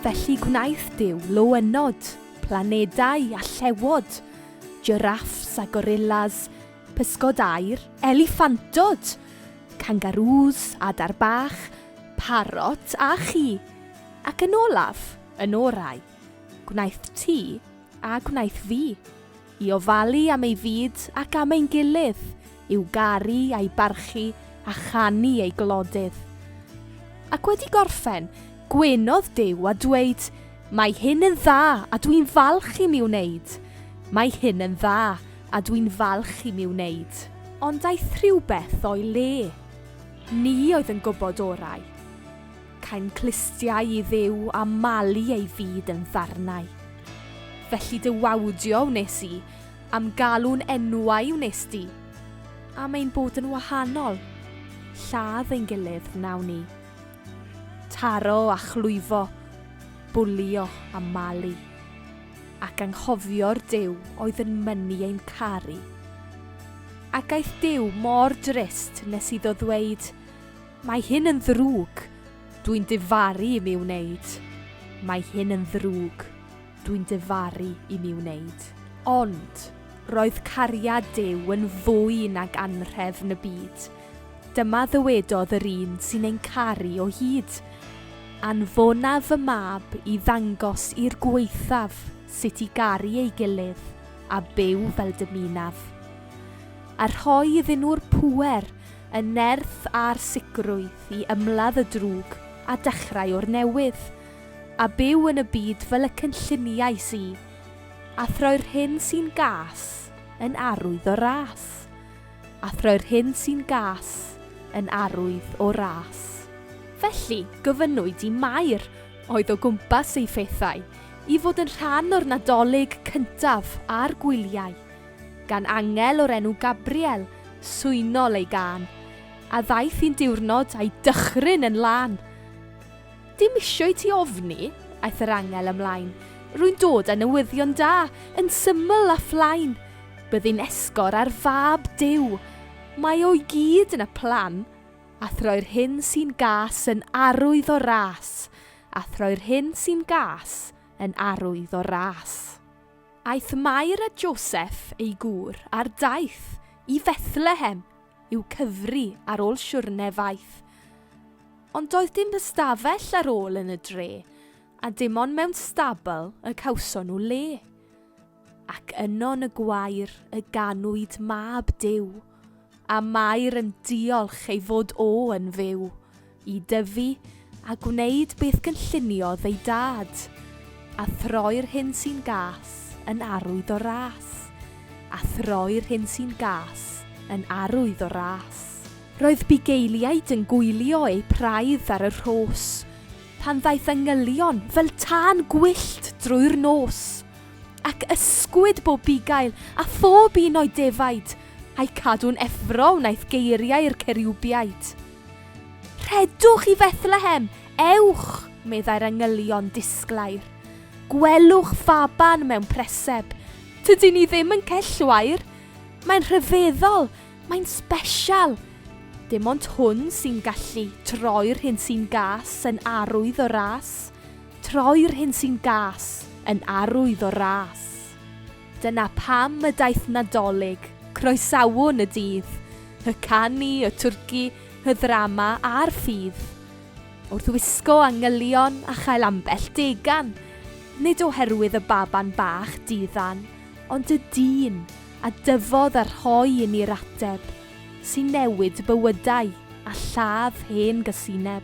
Felly gwnaeth Duw loenod, planedau a llewod, giraffes a gorillas, pysgod aer, eliffantod, kangaroos, adar bach, parot a chi, ac yn olaf, yn orau, gwnaeth ti a gwnaeth fi. I ofalu am ei fyd ac am ein gilydd, i'w garu a'i barchu a chanu ei glodydd. Ac wedi gorffen, gwynodd Duw a dweud, Mae hyn yn dda a dwi'n falch i mi wneud. Mae hyn yn dda a dwi'n falch i mi wneud. Ond aeth rhywbeth o'i le. Ni oedd yn gwybod orau. Caem clustiau i Dduw a malu ei fyd yn ddarnau. Felly dy wawdio wnes i, a'm galw'n enwau wnes di. Am ein bod yn wahanol, lladd ein gilydd wnawn ni. Taro a chlwyfo, bwlio a malu. Ac anghofio'r Duw oedd yn mynnu ein caru. Ac aeth Duw mor drist nes iddo ddweud, Mae hyn yn ddrwg. Dwi'n difaru i mi wneud. Mae hyn yn ddrwg. Dwi'n difaru i mi wneud. Ond, roedd cariad Duw yn fwy nag anrhef na byd. Dyma ddywedodd yr un sy'n ein caru o hyd, Anfona fy mab i ddangos i'r gwaethaf sut i garu ei gilydd a byw fel dymunaf. A rhoi iddyn nhw'r pŵer y nerth a'r sicrwydd i ymladd y drwg a dechrau o'r newydd, a byw yn y byd fel y cynlluniais i, a throi'r hyn sy'n gas yn arwydd o ras, a throi'r hyn sy'n gas yn arwydd o ras. Felly, gofynnwyd i Mair, oedd o gwmpas ei phethau, i fod yn rhan o'r Nadolig cyntaf a'r gwyliau. gan angel o'r enw Gabriel, swynol ei gân, a ddaeth un diwrnod a'i dychryn yn lân. Dim isio i ti ofni, aeth yr angel ymlaen, rwy'n dod â newyddion da, yn syml a phlaen. Byddin esgor ar fab Duw, mae o i gyd yn y plan, a throi'r hyn sy'n gas yn arwydd o ras, a throi'r hyn sy'n gas yn arwydd o ras. Aeth Mair a Joseff, ei gŵr, ar daith i Fethlehem i'w cyfri ar ôl siwrne faith. Ond doedd dim ystafell ar ôl yn y dre, a dim ond mewn stabl y cawson nhw le. Ac yno yn y gwair y ganwyd mab Duw. A Mair yn diolch ei fod o yn fyw i dyfu a gwneud beth gynlluniodd ei dad, a throi'r hyn sy'n gas yn arwydd o ras, a throi'r hyn sy'n gas yn arwydd o ras. Roedd bugeiliaid yn gwylio eu praidd ar y rhos, pan ddaeth angylion fel tân gwyllt drwy'r nos. Ac ysgwyd bob bugail, a phob un o'i defaid, a'u cadw'n effro wnaeth geiriau'r ceriwbiaid. Rhedwch i Fethlehem! Ewch! meddai'r angylion disglair. Gwelwch faban mewn preseb. Tydi ni ddim yn cell wair. Mae'n rhyfeddol, mae'n sbesial. Dim ond hwn sy'n gallu troi'r hyn sy'n gas yn arwydd o ras. Troi'r hyn sy'n gas yn arwydd o ras. Dyna pam y daeth Nadolig, croesawwn y dydd, y canu, y twrci, y ddrama a'r ffydd. Wrth wisgo angylion a chael ambell degan, nid oherwydd y baban bach di-ddan, ond y dyn a dyfodd a rhoi i ni'r ateb sy'n newid bywydau a lladd hen gasineb.